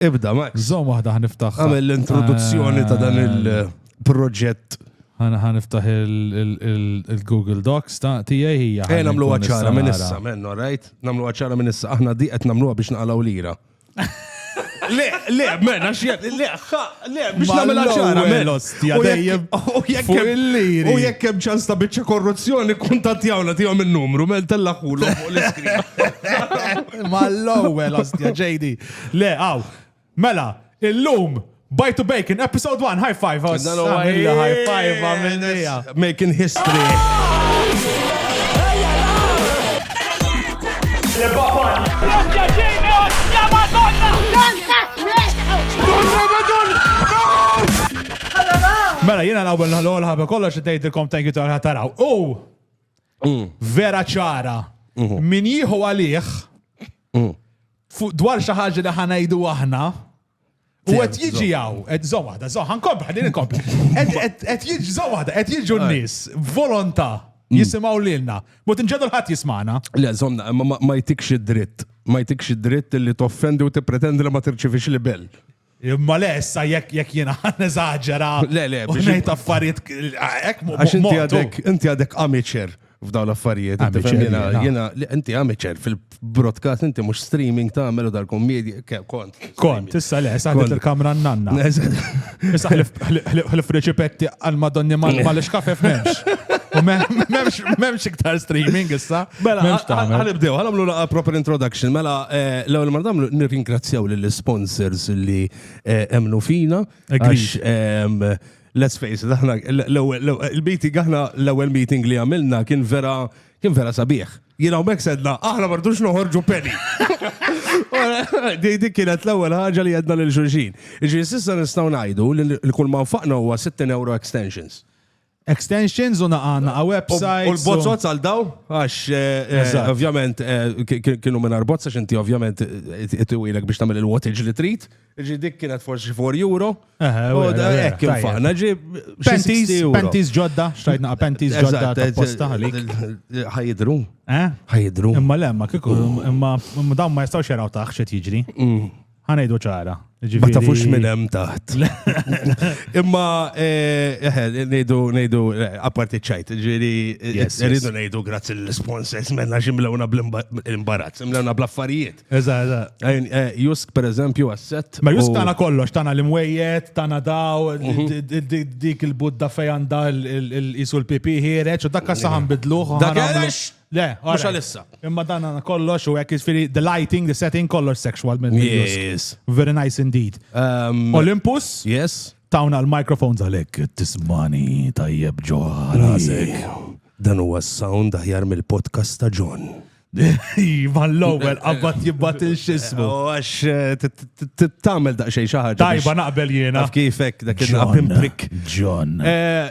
Ibda, Max. Zom waħda ħniftaħ. Għamil l-introduzzjoni ta' dan il-proġett. Għana ħaniftaħ il-Google Docs ta' tijaj hija. Ej, namlu għacċara minn issa, minn, all right? Namlu għacċara minn issa, aħna di għet namlu biex naqalaw lira. Le, le, men, għax jgħat, le, le, biex namela ċara, men. L-ostja dejjem. U jekk hemm ċans ta' biċċa korruzzjoni, kuntatjawna tijom il-numru, men tella ħulu fuq l-iskrin. Ma l-ewwel ostja, ġejdi. Le, għaw. Mela, illum, Bite to Bacon, episode 1, high five. Oh, Dan huwa Samilla, high five, għamilnija. Making history. Mela, jena l-għabel l-għol ħabba kollox tgħidilkom thank you tal taraw. U vera ċara, min jieħu għalih, fuq dwar xi ħaġa li ħanajdu aħna, U għet jiġi għaw, għet zomada, zoħan kompli, għadin kompli. Għet jiġi zomada, għet jiġi n-nis, volonta, mm. jisimaw l-ilna. Mut nġedu l-ħat jismana. Le, zomna, ma jtikx id-dritt. Ma jtikx id-dritt li toffendi u t-pretendi li ma tirċivix li bell. Imma le, issa jekk jekk jiena neżaġera. Le, le, biex. Ngħid affarijiet hekk Għax inti għadek, inti għadek amateur f'dawn l-affarijiet. Jiena inti amateur fil-broadcast, inti mhux streaming tagħmel u dal-kommedja kont. Kont, issa le, issa ħdiet il-kamra n-nanna. Issa ħlif riċipetti għal madonni mal-iskafef m'hemmx. U m'hemmx iktar streaming issa. Mela, għalibdew, għalamlu laqa proper introduction. Mela, eh, l-ewel mardamlu nirringrazzjaw l-sponsors li eh, emnu fina. Għax, ehm, let's face it, aħna l-meeting, aħna l-ewel meeting li għamilna kien vera, kien vera sabiħ. Jina u sedna, aħna mardux noħorġu penny. Di kienet l-ewwel ħaġa li għedna lil xulxin. Ġi sissa nistgħu ngħidu li kull ma nfaqna huwa 60 euro extensions. Extensions u naqa naqa website. U l-bozzot għal daw, għax eh, eh, ovvjament eh, kienu minn arbozza xinti ovvjament it-tiwilek biex tamil il-wattage li trit. Ġi dik kienet forsi 4 euro. U da ekk infaqna ġi. Pentis ġodda, xtajt naqa pentis ġodda ta' posta għalik. Ħajdru. Ħajdru. Imma lemma, kiku, imma dawn ma jistawx jaraw taħx jiġri. Mm. Ħanejdu ċara. Ma tafux minn hemm taħt. Imma eh, eh, ngħidu ngħidu eh, apparti ċajt, ġieri rridu ngħidu grazzi l-sponsors menna ximlewna bl-imbarazz, imlewna bl-affarijiet. Eża, eża. Jusk pereżempju asset. Ma Jusk tagħna kollox, tagħna l-imwejjed, tagħna daw, mhm. dik il-budda fejn għandha l-isu l-pipi ħiereġ, u dak saħan bidluħ. Dak Le, Mhux għalissa. Imma dan għana kollox u għek jisfiri the lighting, the setting, kollox sexual minn Yes. Very nice indeed. Um, Olympus, Yes. tawna l-microphones għalek tismani tajjeb ġo rasek. Dan huwa s-sound aħjar mill-podcast ta' John. Iva l-ewwel qabad jibbat il-xismu. U għax eh, t- t- t- t- tagħmel daqsxejn xi ħaġa. Tajba biex- naqbel jiena. Taf kif hekk dak il-naqbim prick. John. Eh,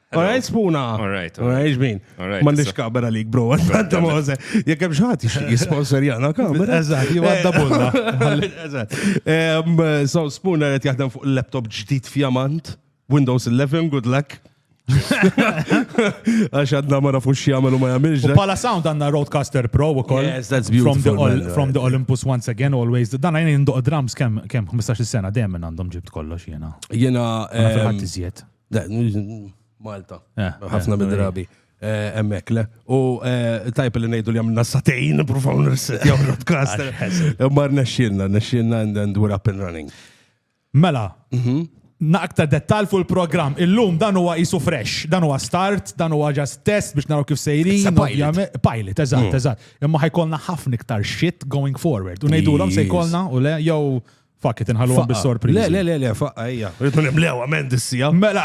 Alright, spuna. Alright. Alright, ġmin. Alright. Mandiċ kabera li bro, għanta maħze. Jek hemm xaħat jisponsor jana kamera. Eżat, jew għadda bulla. Eżat. So, spuna għet jaħdem fuq laptop ġdid fjamant, Windows 11, good luck. Għax għadna ma nafux xjamel u ma jamilġ. U pala sound għanna Roadcaster Pro u koll. Yes, that's beautiful. From the, all, from the Olympus once again, always. Dan għajni jinduq drums kem 15 sena, dejjem għandhom ġibt kollox jena. Jena. Għanna fil-ħadd iżjed. Malta. Eh, Ħafna eh, mid-drabi. Eh, emmek, le. U tajp li nejdu li għamilna satejn, profaw nirset, jaw rodkast. Mar nexxinna, nexxinna and we're up and running. Mela, mhm. naqta dettal fuq il-program. Illum dan huwa isu fresh, dan huwa start, dan huwa just test biex naraw kif sejrin. Pilot, eżatt, mm. eżatt. Imma ħajkolna ħafna iktar shit going forward. U ngħidulhom se jkollna u le jew Fakki tinħalluhom bis-sorpriżi. Le, le, le, le, faqqa hija. Rridu nimlew ament issija. Mela,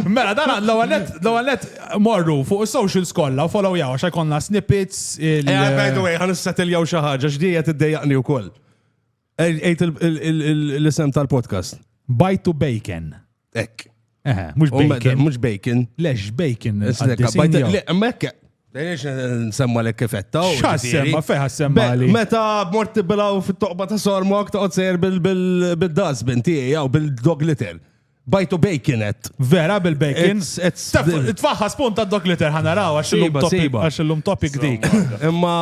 mela dan l-ewwel net morru fuq is-social skolla u follow jaw għax jkollna snippets. Eh, by the way, ħan issetiljaw xi ħaġa x'dija tiddejjaqni wkoll. Ejt l-isem tal-podcast. Bite to bacon. Ek. Eħe, mhux bacon. Mhux bacon. Lex bacon. Mekk, Lejniex nsemma l kifetta. Xassemma, feħa semma li. Meta morti bilaw fit-toqba ta' sormok ta' sejr bil-dazbin tiegħi jew bil-dog litter. Bajtu baconet. Vera bil-bacon? Tfaħħas punt ta' dog litter ħanaraw għax illum topic dik. Imma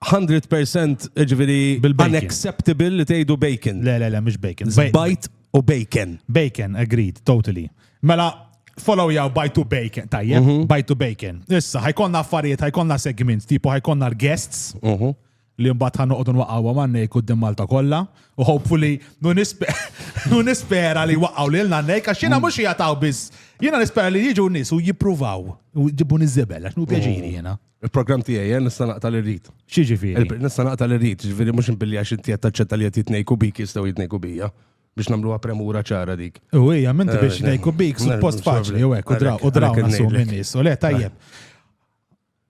100% ġviri unacceptable li tgħidu bacon. Le, le, le, mhux bacon. Bajt U bacon. Bacon, agreed, totally. Mela, follow jaw by to bacon, tajjeb, mm -hmm. by to bacon. Issa, ħajkonna affarijiet, ħajkonna segments, tipo ħajkonna l-guests, mm -hmm. li mbagħad ħan noqogħdu nwaqgħu għamannejk qudiem Malta kollha, u hopefully nu nispera li waqgħu lil nannejk għax jiena mhux jagħtaw biss. Jiena nispera li jiġu nies u jippruvaw u ġibu niżibel għax nu pjaġiri jiena. Il-programm tiegħi eh, nista' naqta' li rrid. X'jiġifieri? Il- Nista' naqta' li rrid, ġifieri mhux inbilli għax inti qed taċċetta li qed jitnejku bik jistgħu jitnejku bija. Biex nagħmluha premura ċara dik. U hija minti biex Eh, nejku bik ne- suppost ne- faċli ne- u hekk u draw u għalhekk- draw għalhekk nasu ngħidlek. minn nies. U le tajjeb.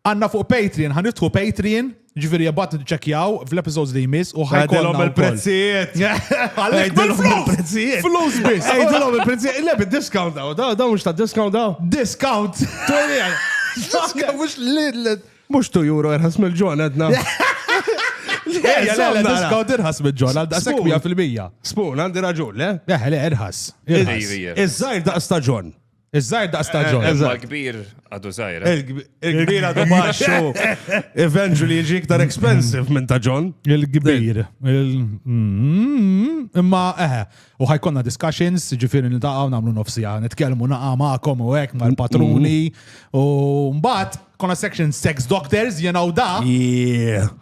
Għanna fuq Patreon, ħan nidħu Patreon, ġifieri jabbat ċekjaw fl-episodes li jmiss u ħajkollna Għadilhom wkoll. il-prezzijiet. Għalhekk Għajdilhom bil-flus! il-prezzijiet. Flus biss! Għajdilhom il-prezzijiet. Le, bid-discount daw, daw, daw mhux ta' discount daw. Discount! Tolli għal- Ġuska mhux l Mhux tu juro irħas mill-ġon għedna. Ejja, le, le, discount irħas mill-ġon għal daqsek 100%. Spun, għandi raġun, le? Eħe, le, irħas. Iż-żajr daqs ta' ġon. Iż-żajr daqs ta' ġon. Iżda kbir għadu żajr. Il-kbir għadu baxxu. Eventually jiġi iktar expensive minn ta' ġon. Il-kbir. Imma, eħe. U ħajkonna discussions, ġifiri niltaqgħu nagħmlu nofsija, nitkellmu naqa' magħkom u hekk mal-patruni. U mbagħad konna section sex doctors, you know da.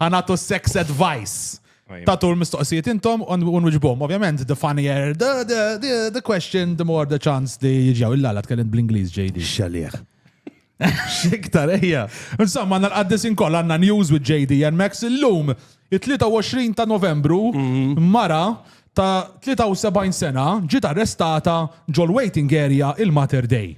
Ħanatu sex advice. Tatu l-mistoqsijiet intom u nwiġbom. Ovvjament, the funnier the, the, the, the question, the more the chance li jiġjaw. Illa la tkellimt bl-Ingliż, JD. Xalieħ. Xiktar, ejja. Insomma, għanna l-qaddis inkoll għanna news with JD and Max illum, il-23 ta' novembru, mhm. mara ta' 73 sena ġiet arrestata ġol waiting area il-Mater Day.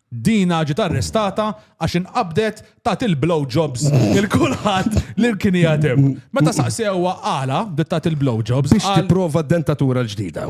Dina ġiet arrestata għax inqabdet ta' il-blow jobs il-kulħadd li kien jgħatem. Meta saqsewha għala dit ta' il-blow jobs. Biex tipprova dentatura l-ġdida.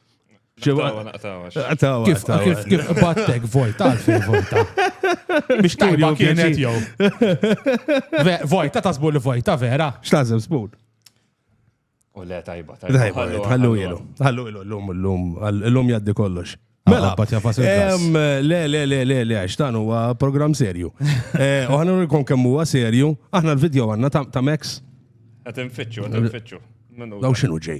Ġewa naqtawa. Naqtawa. Kif kif kif battek vojta għalfejn vojta. Biex tajba kienet jew. Vojta tasbu li vojta vera. X'tażem spun? U le tajba tajba. Tajba, ħallu ilu. Ħallu ilu l-lum l-lum. L-lum jaddi kollox. Mela, le, le, le, le, le, għax dan huwa program serju. Eh, u ħana rikon kemm huwa serju, aħna l-video għanna ta' Max. Għatem fitxu, għatem fitxu. Daw xinu ġej.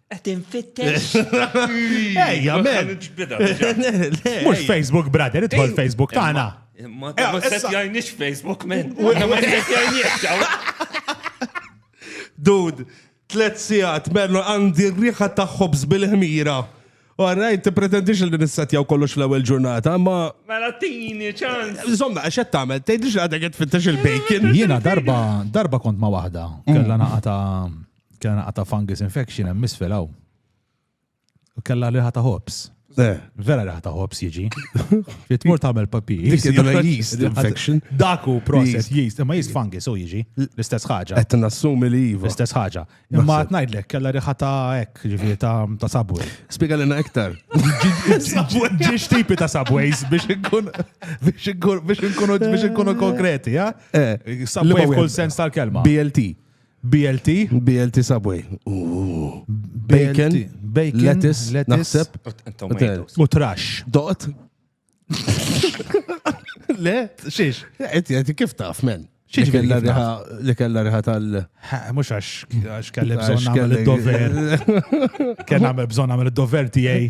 Qed infittex. Ejja, men. Mhux Facebook, brother, idħol Facebook tagħna. Ma jgħinix Facebook, men. Ma Dud, tlet sigħat merlu għandi riħa ta' ħobż bil-ħmira. Għarraj, ti pretendix li nissetjaw kollox l-ewel ġurnata, ma. Mela tini, ċans. Zomma, għaxet tamel, tejdix għadha għed fittax il-bacon. Jena darba, darba kont ma wahda, kalla naqa ta' Kena naqa ta' fungus infection hemm misfel hawn. U kella riħa ta' hops. Eh. Vera riħa ta' hops jiġi. Fitmur tagħmel papi. Yeast infection. Daku process yeast, imma yeast fungus u jiġi. L-istess ħaġa. Qed nassumi li iva. L-istess ħaġa. Imma qed ngħidlek kella riħa ta' hekk, ġifieri ta' sabwi. Spiega lilna iktar. Ġiex tipi ta' sabways biex inkun biex inkun biex inkunu konkreti, ja? Eh. Sabway f'kull sens tal-kelma. BLT. BLT? BLT Subway. Bacon, bacon, lettuce, naħseb. U trash. Doqt? Le, xiex? Għet, għet, kif taf, men? Xiex li kella riħa tal. Mux għax kelli bżon għamil il-dover. Kella għamil bżon għamil il-dover tijaj.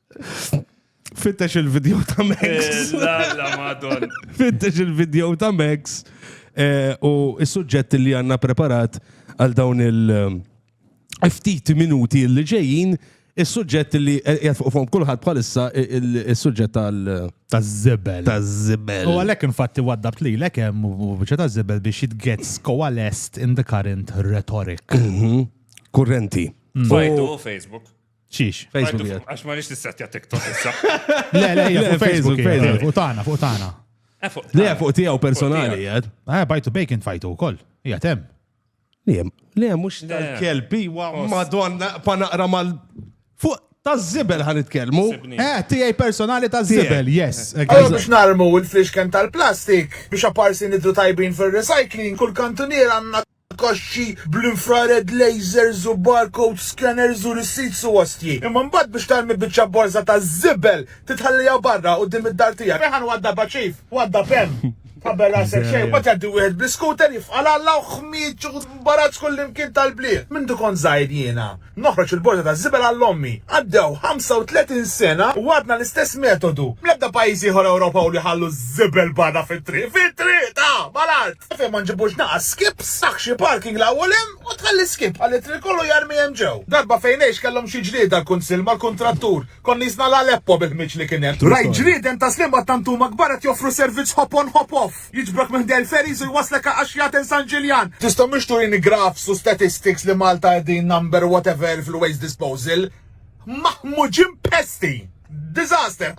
Fittex il-video ta' Max. La, la, madon. Fittex il-video ta' Max eh, u s-suġġett li għanna preparat għal dawn il- eh, ftit minuti li ġejjin, is-suġġett li eh, jgħat fuq fuq kulħadd bħalissa eh, il- is-suġġett tal- Taż-żebel. taż-żibel. U għalek infatti waddabt li lek hemm u bieċa ta' zibel biex it gets coalesced in the current rhetoric. Kurrenti. Fajtu u Facebook. Xiex? Facebook jgħid. Għax ma nix nissettja TikTok issa. Le, le, hija fuq Facebook, Facebook, fuq tagħna, fuq tagħna. Eh, le, fuq tiegħu personali jgħid. Ah, bajtu bacon fajtu wkoll. Hija temm. Le, le, mhux tal-kelbi wa madonna pa naqra mal fuq ta' zibel ħan itkelmu. Eh, tijaj personali ta' zibel, yes. Għallu biex narmu il-flixken tal-plastik biex aparsi nidru tajbin fil-recycling, kull kantunier għanna kaxxi bl-infrared lasers u barcode scanners u receipts u ostji. Imma mbagħad biex tarmi biċċa borża ta' żibel titħalliha barra quddiem id-dar tiegħek. Ferħan waddabha chief, waddab hemm. Tqabbel rasek xejn, mbagħad jgħaddi wieħed bl-iskuter jifqa' l-alla u ħmieġ u mbarazz kullimkien tal-bliet. Mindu kont żgħir jiena. Noħroġ il-borża taż-żibel għal ommi. Għaddew 35 sena u għadna l-istess metodu. Bl-ebda pajjiż ieħor Ewropew li jħallu ż-żibel barra fit-triq, fit-triq ta' mal-art! Fejn ma nġibux naqas skips, tagħh xi parking 'l hawn u 'l hemm u tħalli skip ħalli t-triq kollu jarmi hemm ġew. Darba fejn ngħix kellhom xi ġlieda l-Kunsill mal-kuntrattur. Kont nisna' l-Aleppo bil-ħmieġ li kien hemm. Rajt ġrieden ta' Sliema tant huma kbar qed joffru servizz hop on hop off. Jiġbrok minn Del Ferries u jwasslek Għaqaxjaten San Ġiljan. Tista' mhux turini graphs u statistics li Malta qegħdin number whatever fil-waste disposal? Maħmuġin pesti! Disaster!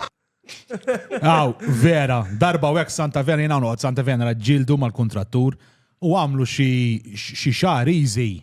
Aw, vera, darba u hekk Santa Venera jiena noqgħod Santa Venera ġildu mal-kuntrattur u għamlu xi xi xahar easy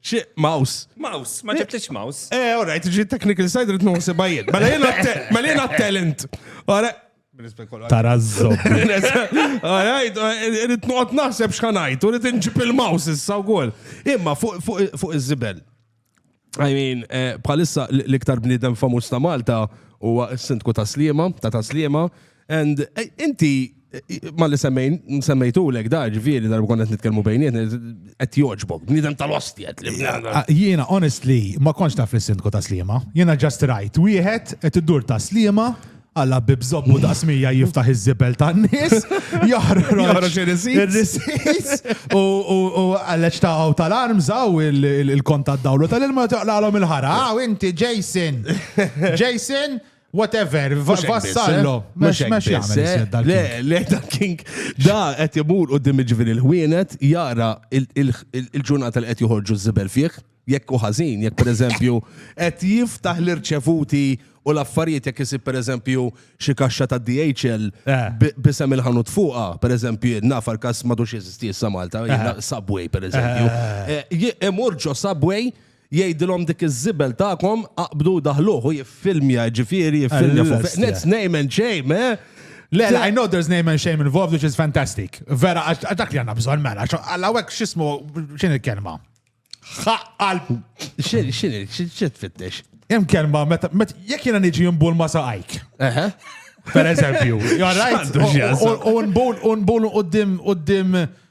Xi, mouse. Mouse, ma ġibtix mouse. Eh, all right, ġi technical side rrit nħusi bajjed. Mela jena mela jena talent. All right. Tarazzo. All right, rrit nuqot naħseb xħanajt, u rrit nġib il-mouse issa u għol. Imma fuq iż-zibel. I mean, eh, bħalissa l-iktar bnidem famus ta' Malta huwa s-sindku ta' Slima, ta' ta' Slima, And eh, inti ma li semmejn, semmejtu l da ġviri darba konna nitkellmu bejniet, għet joġbok, bnidem tal-ostjet li ah, Jiena, honestly, ma konx taf li sindku ta' slima. Jiena just right, wieħed qed iddur ta' slima, għalla bibżobbu da' smija jiftaħ iż-zibel ta' nis, joħroġ il-risis, u għalleċ ta' għaw tal-arm zaw il-kont ta' dawlu tal-ilma toqlalom il-ħara. Għaw, ah, inti, Jason. Jason, Whatever, vassallo. Mux mux jgħamil. Le, le, da king, da għet jibur u dim ġivin il-ħwienet, jara il-ġurnata li għet juħorġu zibel fieħ, jekk u ħazin, jekk per eżempju, għet jiftaħ l-irċevuti u l-affarijiet jekk jisib per eżempju xie kaxxa ta' DHL eh. bisem il-ħanut fuqa, per eżempju, nafar kas madux jizisti jissa Malta, eh. Subway per eżempju. Eh. Imurġo Subway, Jgħidilhom dik iż-żibel tagħkom aqbdu u daħluh u jiffilmja, jiġifieri jiffilmja fuq Allura, Fitness name and shame, eh? Le, le, I know there's name and shame involved, which is fantastic. Vera, għax għax dak li għanna bżon, mela, għax għallawek xismu, xin il-kelma? Xaqqal, X'in x'in x'in tfittex? jem kelma, meta, met, jek jena niġi jimbul ma saqajk, Eħe. per eżempju, you're right? X'għandu x'jaqsam? U- u- u nbul, u nbul u qoddim, qoddim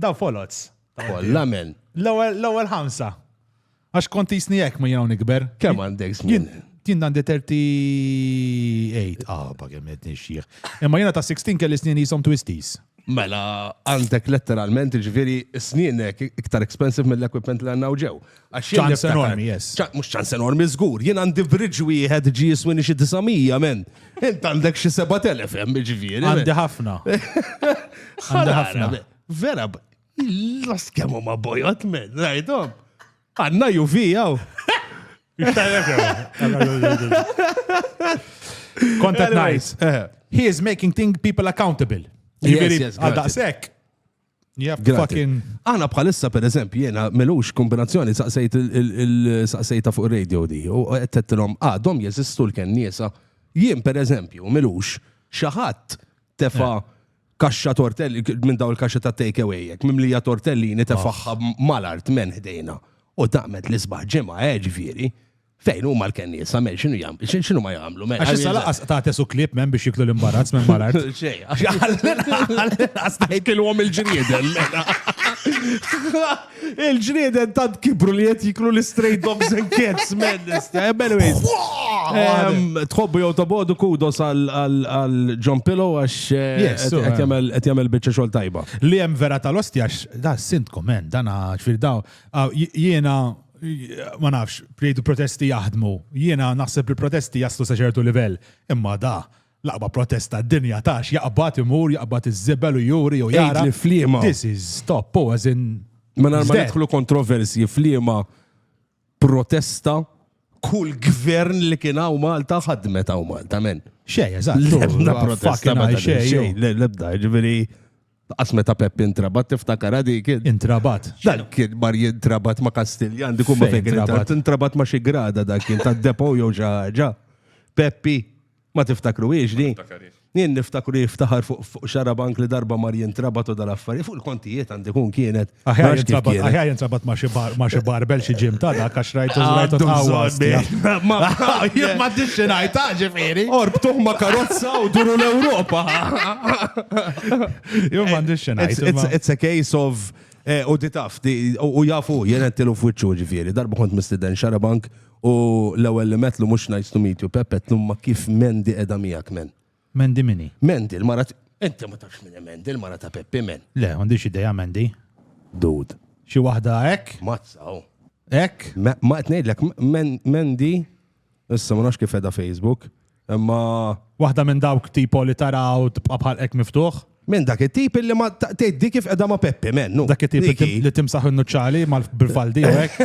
Daw folots. Kolla men. L-ewwel ħamsa. Għax kont jisni jekk ma jgħu nikber. Kemm għandek żmien? Jien għandi 38, ah, pa' kemm qed nixjieħ. Imma jiena ta' 16 kelli snin jisom twisties. Mela, għandek letteralment ġviri snienek iktar expensive mill-equipment li għanna ġew. ċans enormi, yes. Mux ċans enormi, zgur. Jien għandi bridġ wieħed ġi jiswini xi 900, men. Int għandek xi 7000 hemm ġifieri. Għandi ħafna. Għandi ħafna. Vera, las kemmu ma bojot, men, rajdom. Għanna ju fijaw. Content nice. Eh. He is making thing people accountable. Yes, yes, għal daqsek. Yep, fucking. Aħna bħalissa per eżempju jena melux kombinazzjoni saqsejt il-saqsejta fuq radio di u għettettilom għadhom ah, jeżistu l-kennisa. Jien per eżempju melux xaħat tefa eh. kaxxa tortelli minn daw il-kaxxa ta' takeaway jek mimlija tortellini tefaħħa mal-art men ħdejna u taqmet l-isbaħ ġimgħa eġviri. Eh, Fejn huma l-kennies, sa mel xinu jam, xinu ma jamlu, mel. Għax issa laqas ta' tesu klib men biex jiklu l-imbarazz minn malar. Xej, għax kilwom il-ġrieden. Il-ġrieden tant kibru li jett jiklu l-straight dogs and cats, men. Anyways. Tħobbu jow tabodu kudos għal John Pillow għax eh, qed jagħmel biċċa xogħol tajba. Li hemm vera tal-ostja da sintkom men, dana ċfir daw. Jiena ma nafx, jgħidu protesti jaħdmu. Jiena naħseb li protesti jaslu sa ċertu livell. Imma da, laqba protesta d-dinja tax jaqbad imur, jaqbad iż-żibel u juri u jgħid li flima. This is stop, u għazin. Ma narma nidħlu kontroversi flima protesta kull gvern li kien hawn Malta ħadmet hawn Malta men. Xej, eżatt. Lebda protesta ma xej, lebda, ġifieri. Qas meta Pepp intrabat tiftakarha dik. Intrabat? Dan kien mar jintrabat ma' Kastilja, għandi kumma fejn intrabat. Intrabat ma' xi grada dak kien ta' depo jew xi ħaġa. Peppi, ma tiftakru hiex di? Jien niftakru jiftaħar fuq xarabank li darba mar jintrabat u dal-affarijiet fuq il-kontijiet għandi kun kienet. Aħjar jintrabat ma xi barbel xi ġim ta' dak għax rajtu rajtu ta' Ma jien ma tixxi ngħid ġifieri. Orbtuh ma karozza u duru l-Ewropa. Jew ma tixxi ngħid. It's a case of eh, u di taf, u jafu, jena t-tilu fwitxu ġifiri, darba kont mistiden xarabank u l-ewel li metlu mux nice to meet you, Pepe, tlum ma kif men di edha miegħek men. Mandy mini? Mandy, l-mara Inti ma tafx minn Mandy, l-mara ta' Peppi men. Le, għandix ideja Mandy. Dud. Xi waħda hekk? Mazzaw. Oh. Hekk? Ma qed ngħidlek Mandy, issa ma nafx kif edha Facebook, imma waħda minn dawk tipo li taraw tibqa' bħal hekk miftuħ. Men dak it-tip illi ma tgħiddi kif qiegħda ma' Peppi, men. nu. Dak it-tip li Diki. tim- li timsaħ in-nuċċali mal bil-faldi u hekk.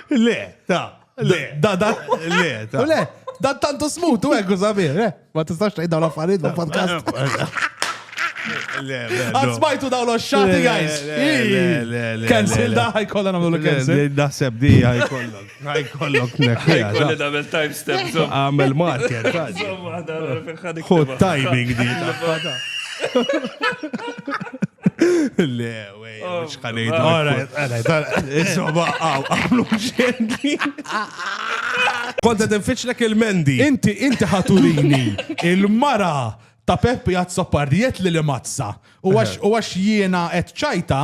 Le, ta, le, da, da, le, ta. U le, dan tantu smut u hekk u sabiħ, le. Ma tistax tgħid dawn l-affarijiet ma' podcast. Le, le, Għad no. smajtu dawn l-xati, guys. Le, le, le, le, Cancel le, le. da, ħajkolla namlu l-cancel. Le, Naħseb di ħajkollok. Għaj kollok nekħija. Kolli damel time step. Għamel marker. Hot timing di. Le, wej, xħanejt. Għara, għara, għara. Insomma, għaw, għamlu xendi. Konta tinfiċlek il-mendi. Inti, inti ħaturini il-mara ta' Peppi għad soppardiet li li mazza. U għax jiena et ċajta,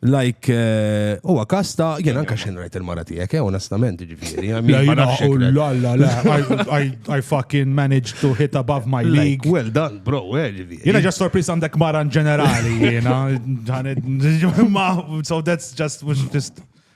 Like, eh, huwa kas ta' jien anka xejn rajt il-mara tiegħek, eh, onestament, ġifieri. I mean, ma nafx hekk le. La, la, la, I- I- I fucking managed to hit above my Like, league. well done, bro, eh, ġifieri. Jena ġa sorpris għandek mara in ġenerali, jena. ġanet- Ma, so that's just, was just.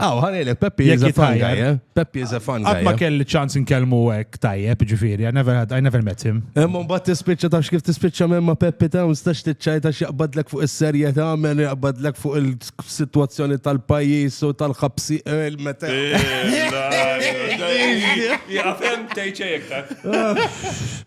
Aw, ħanilek, Peppi is a fun guy, eh? Peppi is a fun guy. Ma eh? kelli ċans nkellmu hekk tajjeb, ġifieri, I never had, I never met him. Imma mbagħad tispiċċa tafx kif tispiċċa minn ma' Peppi Towns tax tiċċajta x'jaqbadlek fuq is-serjetà, men jaqbadlek fuq il-sitwazzjoni tal-pajjiż u tal-ħabsi eh, meta. Jaqfem tgħid xejn iktar.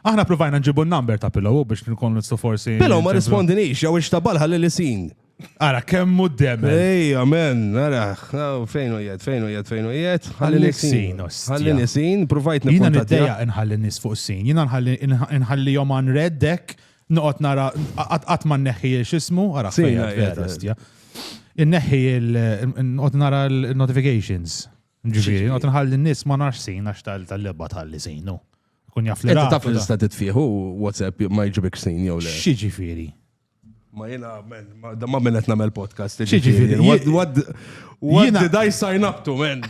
Aħna provajna nġibu n-number ta' Pillow u biex nkun nistgħu forsi. Pillow ma rispondinix, jew ixtabal ħalli li sin. Ara, kemm hu d-dem. Ej, amen, ara, fejn u jed, fejn u jed, fejn u jed. Ħalli nisin, ħalli nisin, provajt nisin. Jina niddeja nħalli nis fuq sin, jina nħalli jom għan reddek, noqot nara, għat ma neħi xismu, ara, fejn u jed, Inneħi il-notifications. Ġifieri, għad nħalli n-nies ma nafx sin għax tal-lebba tal-li sinu. Kun jaf li. Inti taf li tista' titfieħu WhatsApp ma jġibek sin jew le. Xi ġifieri? Ma jena, da ma minnet namel podcast. Ġifiri, what, what did I sign up to, man?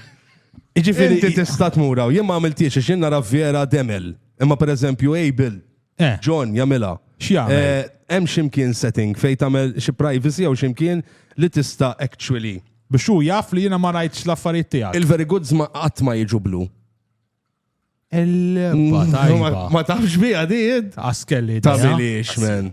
Ġifiri, ti tista tmuraw, jien ma għamiltiex, x'in nara vera demel. Imma per eżempju, Abel, Eh. John jagħmilha. X'jagħmel? Eh, Hemm x'imkien setting fejn tagħmel xi privacy jew x'imkien li tista' actually. Biex hu jaf li jiena ma rajtx l-affarijiet tiegħek. Il-very goods ma qatt ma jiġu blu. Il-leba tajba. Ma tafx biha di id. Askelli. Ta' biliex, man.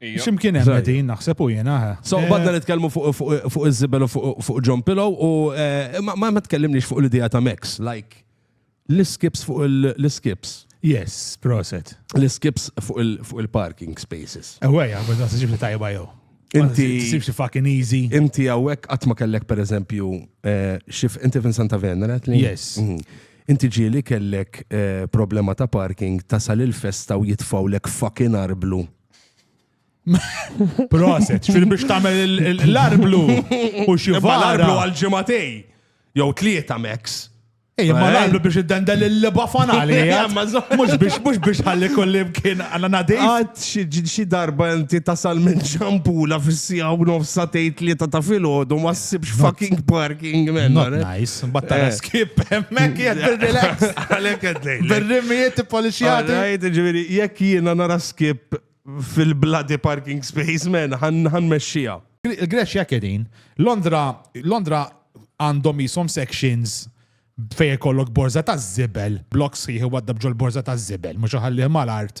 Ximkien hemm qegħdin naħseb u jiena. Eh. So eh. badna nitkellmu fuq iż-żibel u fuq John Pillow u eh, ma tkellimniex fuq l-idea ta' Max, like l-skips fuq l-skips. Yes, proset. L-skips fuq il-parking spaces. Eweja, eh, bħazna s-sġib li tajba jow. Inti. Sibx fucking easy. Inti għawek għatma kellek per eżempju, eh, xif inti fin Santa Venera? Yes. Mhm. Inti ġieli kellek problema ta' parking tasal il-festa u jitfgħulek fucking arblu. Proset, xfir biex tagħmel l-arblu u xi l-arblu għal ġimatej. Jew tlieta Max. Ej, ma l-arblu biex id-dendel il-liba fanali. Mux biex, mux biex ħalli kolli mkien għanna nadej. Għad xi darba inti tasal minn ġampula fissija u nofsa tejt li ta' filgħodu ma ssibx fucking parking minn. Nice, battares. Kip, hemmhekk jgħid bil-relax. Għalhekk qed ngħid. Bil-rimmijiet ippolixjati. Għajt, ġifieri, jekk jiena nara skip fil-bloody parking space, men, ħan mexxija. Il-Greċja hekk qegħdin. Londra, Londra għandhom jisom sections fej kollok borza ta' zibel, blok sħiħ waddab ġol borza ta' zibel, mux ħallih mal-art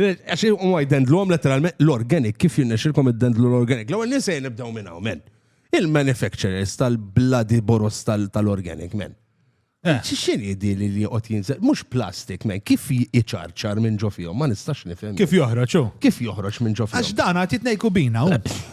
Għax u ma jdendluhom letteralment l-organic, kif jinnexilkom id-dendlu l-organic. L-ewwel nies se nibdew minn hawn, men. Il-manufacturers tal-bloody boros tal-organic, men. Eh. X'in jidi li li jqgħod jinżel? Mhux plastik, men, kif jiċarċar minn ġo fihom, ma nistax nifhem. Kif joħroġ hu? Kif joħroġ minn ġo fihom? Għax dan għad jitnejku bina hu.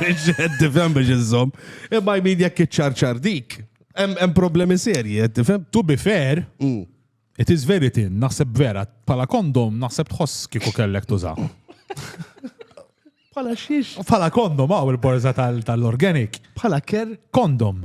Biex tifhem biex iżżomm. Imma jmin jekk iċċarċar dik. Hemm problemi serji, qed tifhem? To be fair, mm. it is very thin, naħseb vera, pala kondom naħseb tħoss kieku kellek tuża. Pala xiex? Pala kondom, għaw il-borza tal-organic. Pala ker? Kondom.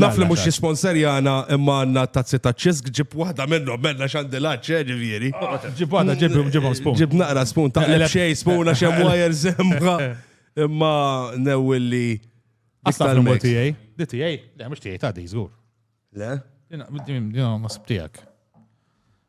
Naf li mhux jisponserjana imma għandna t-tazzi taċ-ċisk, ġib waħda minnhom, m'għandna x'għandilhax, eh, ġifieri. Ġib waħda, ġibhom, ġibhom spoon. Ġib naqra spoon, taqleb xejn spoon għax hemm wires hemm. Imma newwi li. Għasta l-mod tiegħi. Di tiegħi? Le, mhux tiegħi ta' di żgur. Le? Dina, ma sibtijak.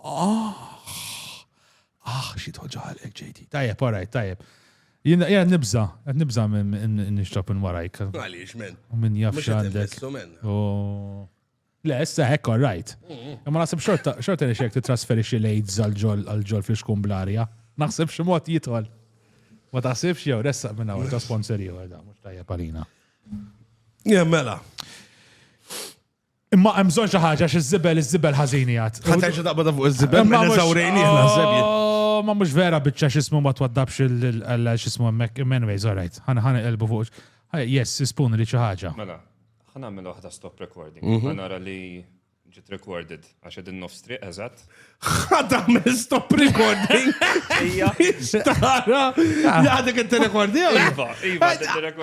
Ah, ah, xi toġalek ġejti. Tajjeb, orajt, tajjeb. Jien qed nibża, qed nibża minn nixrob minn warajk. Għaliex men. U minn jaf x'għandek. Le, issa hekk all right. Imma naħseb xorta xorta li xek titrasferixxi l-AIDS għal-ġol fl-iskun bl-arja. Naħseb xi mod jidħol. Ma taħsibx jew ressaq minn hawn ta' sponsor ieħor da, mhux tajjeb għalina. Jemmela. Imma hemm bżonn xi ħaġa xi żibel iż-żibel ħażin jgħid. Ħa terġa' taqbad fuq iż-żibel ma eżawrejni naħseb. Oh, ma mhux vera biċċa x'ismu ma twaddabx il x'ismu hemmhekk. Anyways, all right. Ħana ħana qelbu fuq. Yes, ispun li xi ħaġa. Mela, ħana nagħmel waħda stop recording. Mhm. Ħana nara li ġiet recorded. Għax edin nofs triq, eżat. ħadda me stop recording. Ija. Tara, għadek inti rekordija. Iva, iva,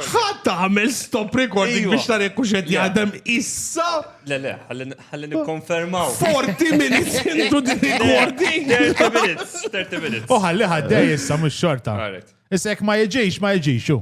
ħadda me stop recording biex tara jekk xed jgħadem issa. Le, le, ħalli nikkonfermaw. 40 minutes into the recording. 30 minutes, 30 minutes. U ħalli ħadda issa mux xorta. Issa jekk ma jġiex, ma jġiex,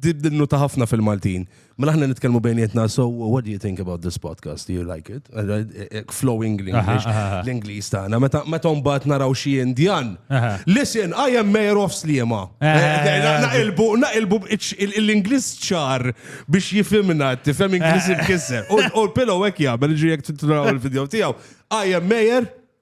Dinnuta ħafna fil-Maltin. Mela ħna nitkellmu bejnietna, so what do you think about this podcast? Do you like it? Eh, eh, eh, flowing l-English, l-Inglis tagħna. Meta meta mbagħad naraw xi Indjan. Listen, I am mayor of Sliema. Naqilbu, naqilbu l-Inglis ċar biex jifimna, tifhem Inglis il-kisser. U l-pillow hekk jagħmel ġi jekk titraw il-video tiegħu. I am mayor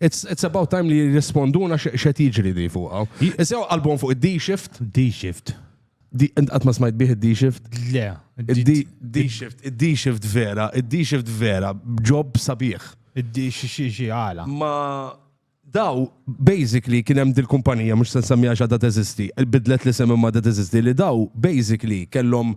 It's, it's about time li jirrisponduna x'qed jiġri di fuqha. Isew qalbhom fuq id-D-shift. D-shift. Int qatt ma smajt bih id-D-shift? Le. D-shift, id-D-shift vera, id-D-shift vera, ġob sabiħ. Id-D-shift għala. Ma daw, basically, kien hemm dil-kumpanija, mhux se nsemmiha x'għadha teżisti, bidlet li semmi ma teżisti, li daw, basically, kellhom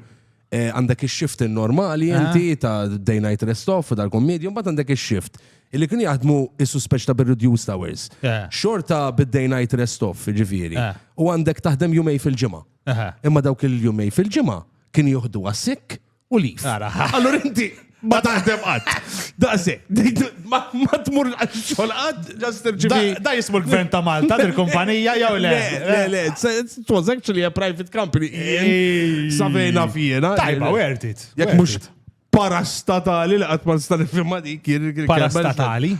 Eh, għandek il-shift normali ah. inti ta' day night rest off u dal-kommedju, mbagħad għandek il-shift. Illi kien jaħdmu is-suspeċ ta' bir-reduced hours. Eh. Xorta bid-day night rest off, ġifieri. Eh. U għandek taħdem jumej fil-ġimgħa. Imma dawk il-jumej fil-ġimgħa kien joħdu għas-sikk u lif. Allora inti Ma taħdem qatt. Daqsi, ma tmur xogħol qatt, ġast irċivi. Da jismu l-gvern ta' Malta, il-kumpanija jew le. Le, le, it was actually a private company. Savejna fjena. Tajba, worth it. Jek mux parastatali li qatt ma nista' nifhimha dik. Parastatali?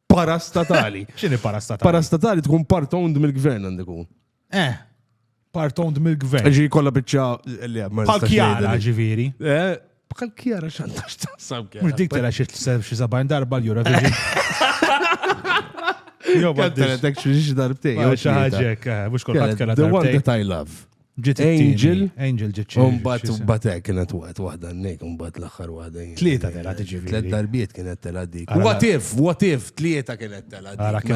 Parastatali. X'inhi parastatali? Parastatali tkun part owned mill-gvern għandek Eh, part owned mill-gvern. Ġi kolla bieċa li għab. Bħal kjara ġiviri. Eh, bħal kjara xantax taħsam kjara. Mux dik tela xie sabajn darba l-Eurovision. Jo, ma t-teretek xie darbtej. Jo, xaħġek, eh, mux kol ħat kella. The one that I love. Ġiet Angel. Angel ġiet xie. Umbat, umbat eh, kienet waqt wahda n-nek, umbat l-axar wahda. Tlieta tela tiġi. Tliet darbiet kienet tela dik. What if, what if, tlieta kienet tela dik.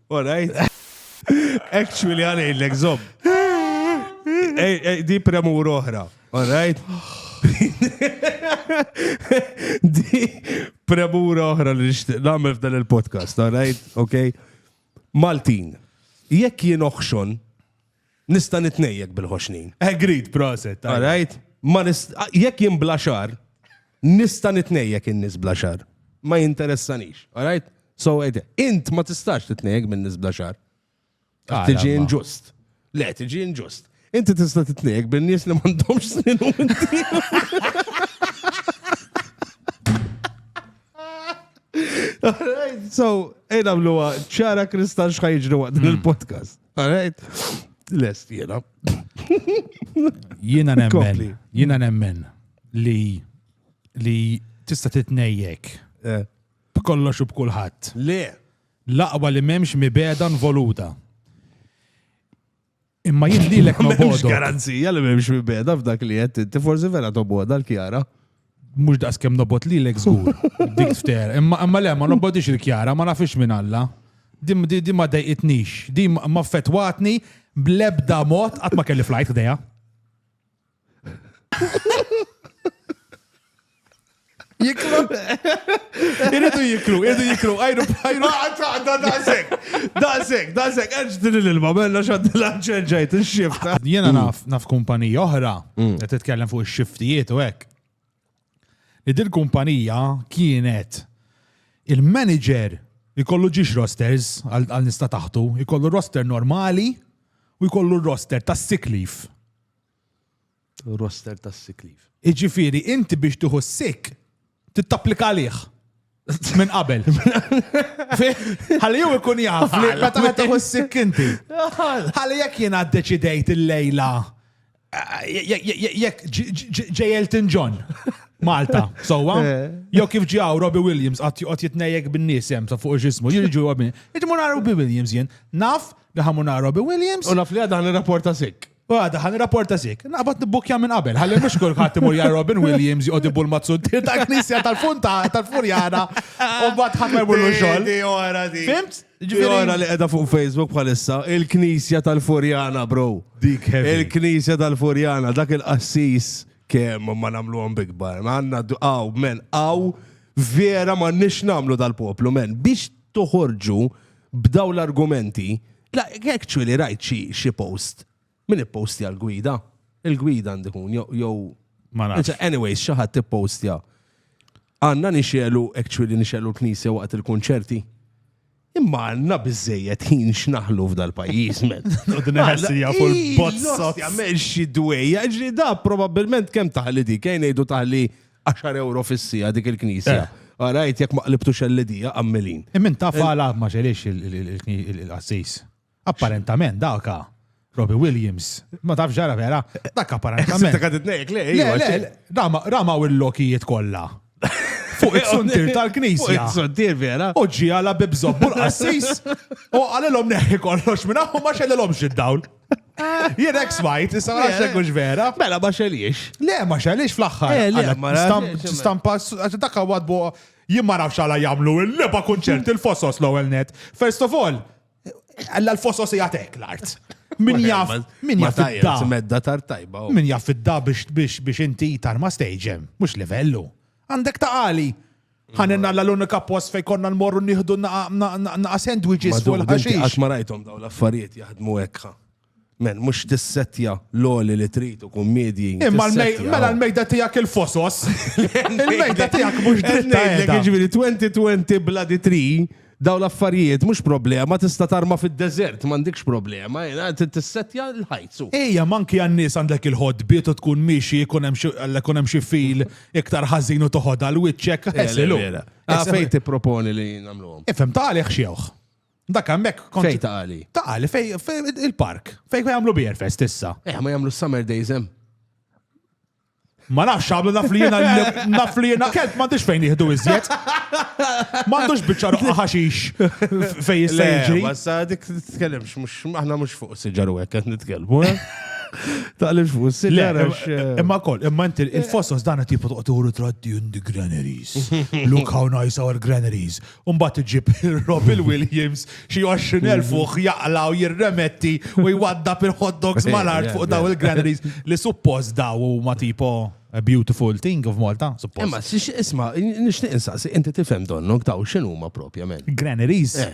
All right. Actually, għalejlek, zob. Di premur oħra. All right. Di premur oħra li namel f'dan il-podcast. All right. Ok. Maltin. Jekk jien oħxon, Nista' nitnejjek bil-ħoxnin. Agreed, proset. All right? Ma nist- jekk jien bla xar, nista' nitnejjek in-nies bla xar. Ma jinteressanix, all right? So, ejde, int ma tistax titnejjek minn nies bla xar. Għax Tiġi Għala, ma. inġust. Le, tiġi inġust. Inti tista' titnejjek bin-nies li m'għandhomx snin u inti. All right, So, ejna mluwa, ċara kristal xħajġru waqt din il-podcast. Alright. Lest jena. Jena nemmen. Jena nemmen li li tista' titnejjek. Eh. B'kollox u b'kulħadd. Le. Laqwa li m'hemmx mibeda nvoluta. Imma jien lilek ma bodok. garanzija li m'hemmx mibeda f'dak li qed inti forsi vera toboda l-kjara. Mhux daqskemm nobot lilek żgur, dik fter. Imma imma le ma nobodix il-kjara, ma nafix minn Alla. Din di- din ma dejqitnix, din ma- ma fetwatni bl-ebda mod qatt ma kelli flajt ħdejha. Jiklu. Iridu jiklu, iridu jiklu, għajru bħajru. Għadda daqsek, daqsek, daqsek, għedġ din l-ilma, bella xaddi l-ġenġajt, il-xifta. Jena naf, naf kumpanija oħra Mm. Qed titkellem fuq ix-xiftijiet u hekk. Li din kumpanija kienet il-manager ikollu ġiex rosters għal nista taħtu, ikollu roster normali u jkollu roster ta' sick leave. Roster ta' sick leave. Iġifiri, inti biex tuħu sick, tittapplika għalih. Minn qabel. Ħalli jew ikun jaf li meta ma taħu s-sikkinti. Ħalli jekk jiena ddeċidejt il-lejla jekk ġej Elton John. Malta, sowa. Eh. Jew kif ġi għaw Robbie Williams għat juqot jitnejek bin-nies hemm sa fuq ġismu, jirġu għabin. Iġmu Robbie Williams jien. Naf li ħamu Robbie Williams. U naf li għadan il-rapporta sik. Għada, ħan rapporta zik. Naqbad nibbukkja minn qabel, ħalli mux kull ħadd imur ja Robin Williams jgħod ibul mazzunti ta' knisja tal-funta tal-furjana u bat ħadd ma jmurlu xogħol. Fimt? Ġora li qiegħda fuq Facebook bħalissa, il-knisja tal-furjana, bro. Dik Il-knisja tal-furjana, dak il-qassis kemm ma namlu għom bigbar. Ma għanna għaw, men, għaw vera ma nix namlu dal-poplu, men, biex toħorġu b'daw l-argumenti Like, actually rajt xi xi post. Min ippostja l-gwida? Il-gwida għandi kun jew jew Ma nafx. Anzi, Anyways, xi ħadd ippostja. Għandna nixelu actually nixelu l-knisja waqt il-kunċerti. Imma għandna biżejjed ħin x'naħlu f'dal-pajjiż, men. Noqdu neħessi jafu l-bozzot. Għamel xi dwejja, ġri da probabbilment kemm taħli di, kejn ngħidu taħli 10 euro fis-sija dik il-knisja. Eh. Għarajt, jek maqlibtu xellidija, għammelin. Immin ta' fala ma xelix il-qassis. Apparentament, daka. Robbie Williams. Ma taf ġara vera, dak apparentament. Dak għad nejk le, le, rama u l-lokijiet kolla. Fuq il-suntir tal-knisja. Il-suntir vera. U ġi għala bibżobbu l-qassis. U għalilom neħi kollox minna u ma xellilom xid-dawl. Jien ek smajt, issa ma nafx hux vera. Mela ma xeliex. Le, ma xeliex fl-aħħar. Eh, le, ma Stampa, dak għad bo, jien ma nafx għala jamlu il-leba kunċert il-fosos l-ewwel net. First of all, għalla l-fosos jgħatek l-art. Min jaf, min jaf id-da. Medda tar tajba. Min jaf id-da biex inti tarma stagem, mux livellu. Għandek ta' għali. Ħanin Alla l-unika post fejn konna nmorru nieħdu naqa' sandwiches fuq il-ħaxix. Qatt ma rajthom dawn l-affarijiet jaħdmu hekk. Men, mhux tissettja l-oli li trid u kummedji. Imma mela l-mejda tiegħek il-fosos. Il-mejda tiegħek mhux dritta. Jiġifieri 2020 bla di tri Dawn l-affarijiet mhux problema, tista' tarma fid-deżert, m'għandikx problema, trid tissettja l-ħajt. Ejja, m'anki għan-nies għandek il-ħodbiet u tkun miexi jkun hemm xi alla jkun hemm xi fil iktar ħażin u toħodha għal wiċċek, eħsilu. Ah, fejn tipproponi li nagħmluhom? Ifhem, ta' għalih x'jewħ. Dak hemmhekk kont. Fejn ta' għali? Ta' għali, fejn il-park. Fejn jagħmlu beer fest issa. Eh, ma jagħmlu summer days hemm. Ma nafx għamlu naf li jena naf li jena kelb m'għandux fejn jieħdu iżjed. M'għandux biċċa roqqa ħaxix fejn jista' jiġri. Ma sa dik titkellimx mhux aħna mhux fuq siġar u hekk qed nitkellmu. Eh? Taqlimx fuq siġar. Eh, imma koll, imma inti il-fossos dan qed jibqa' toqgħod traddi in the granaries. Look how nice our granaries. u mbagħad iġib Robin Williams xi 20,000 fuq mhm. jaqla u jirremetti u jwaddab il-hot dogs mal-art fuq daw il-granaries li suppost daw huma tipo a beautiful thing of Malta, suppost. Imma, isma, nixtieq insaqsi, inti tifhem donnok daw x'inhuma propjament. Granaries. Eh.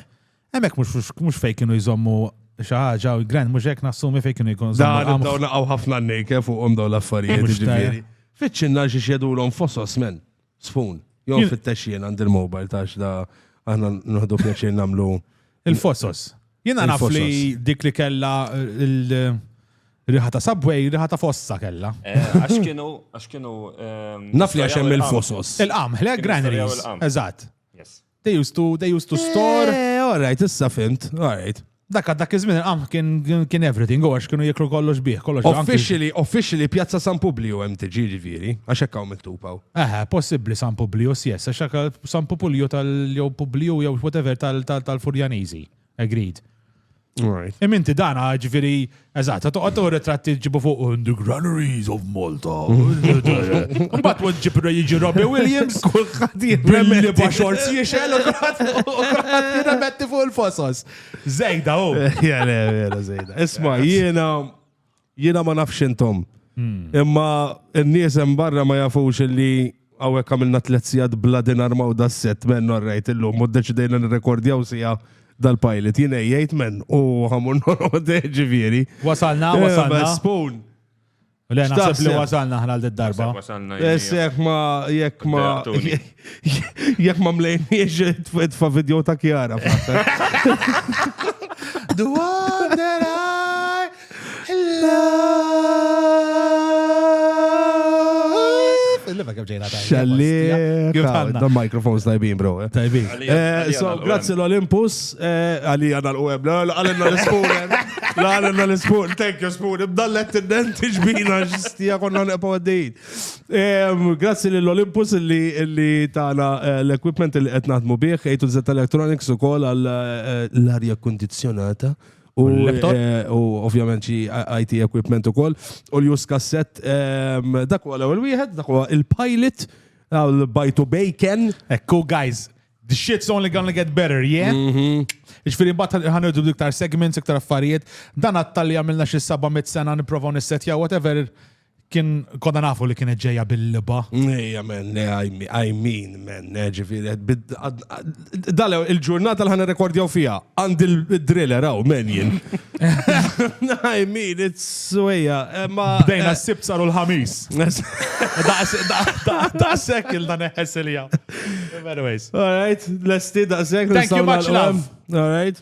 Hemmhekk mhux fejn kienu jżommu xi ħaġa u gran mhux hekk nassumi fejn kienu jkunu. Dan daw naqgħu ħafna nnejke fuqhom daw l-affarijiet ġifieri. Fiċċinna xi xjedulhom fosos men. Sfun. Jo Jien- fittex jien għand il-mobile tax da aħna nħdu pjaċir namlu. Il-fosos. Jiena naf li Il-fosos. dik li kella il-riħa ta' subway, riħa ta' fossa kella. Eh, Għax kienu, għax kienu. ehm, Naf li għax hemm storjaw il-fosos. Il-qamħ, le, Kienu storjaw granaries. il-qamħ. Eżatt. Yes. They used to, they used to store. Eh, all right, issa fimt, all right. Dak dak iż-żmien il-qamħ kien kien everything, u għax kienu jiklu kollox bih, kollox anki- Officially, officially Pjazza San Publio hemm tiġi ġifieri, għax hekk hawn miktub hawn. Eħe, possibbli San Publius, yes, għax dak San Pupulju tal-jew Publiju jew whatever tal- tal- tal-Furjaniżi. Agreed. Right. Iminti dana, ġviri, eżat, ta' toqgħod u ritratti ġibu fuq in the granaries of Malta. Mbagħad wad ġib jiġi Robbie Williams. Kulħadd jibbilli ba' xorz jiexel u kulħadd jirremetti fuq il-fosos. Zejda u. Jena, jena, zejda. Isma, jiena Jiena ma nafx intom. Hmm. Imma n-nies hemm barra ma jafux li għawek għamilna tlet sijad bla dinar ma' da set men rajt illum u deċidejna nirrekordjaw sija dal-pilot. Jien ejjajt men u għamun norode ġifieri. Wasalna, eh, wasalna. Spoon. Le, naħseb li wasalna ħna l-darba. Wasalna. Jessek ma, jekk ma. Jek ma mlejniex tfa video ta' Kiara. The one that I love. The microphones tajbin, bro. Eh. Tajbin. Eh, so, grazzi l-Olympus, eh, għalli għana l-UM, għalina l-Spoon, għalina l-Spoon, thank you Spoon, bdallet t-denti ġbina ġistija konna neqpa għaddejt. Grazzi lill Olympus li tana eh, l-equipment li qed naħdmu bih, A to Z Electronics ukoll għal eh, l-arja kondizjonata. U eh, ovvjament xi IT equipment ukoll. U l-jus kasset dak huwa l-ewwel wieħed, dak huwa il-pilot għal bajtu bacon. Ekku guys, the shit's only gonna get better, yeah? Mhm. Iġfiri, bat ħanħudu iktar segments, iktar affarijiet, dan għattalli għamilna xie saba mit sena niprofaw nissetja, whatever, kien konna nafu li kienet ġeja bil-liba. Ejja, men, I mean, men, eh, ġifiri, dal il-ġurnata l-ħana rekordjaw fija, għand il-driller, għaw, men jien. I mean, it's suja. Eh, Bdejna eh, s-sib saru l-ħamis. Da' sekk il dan eħessilija. Anyways. All right, l-esti da' sekk. Thank you much, love. All right.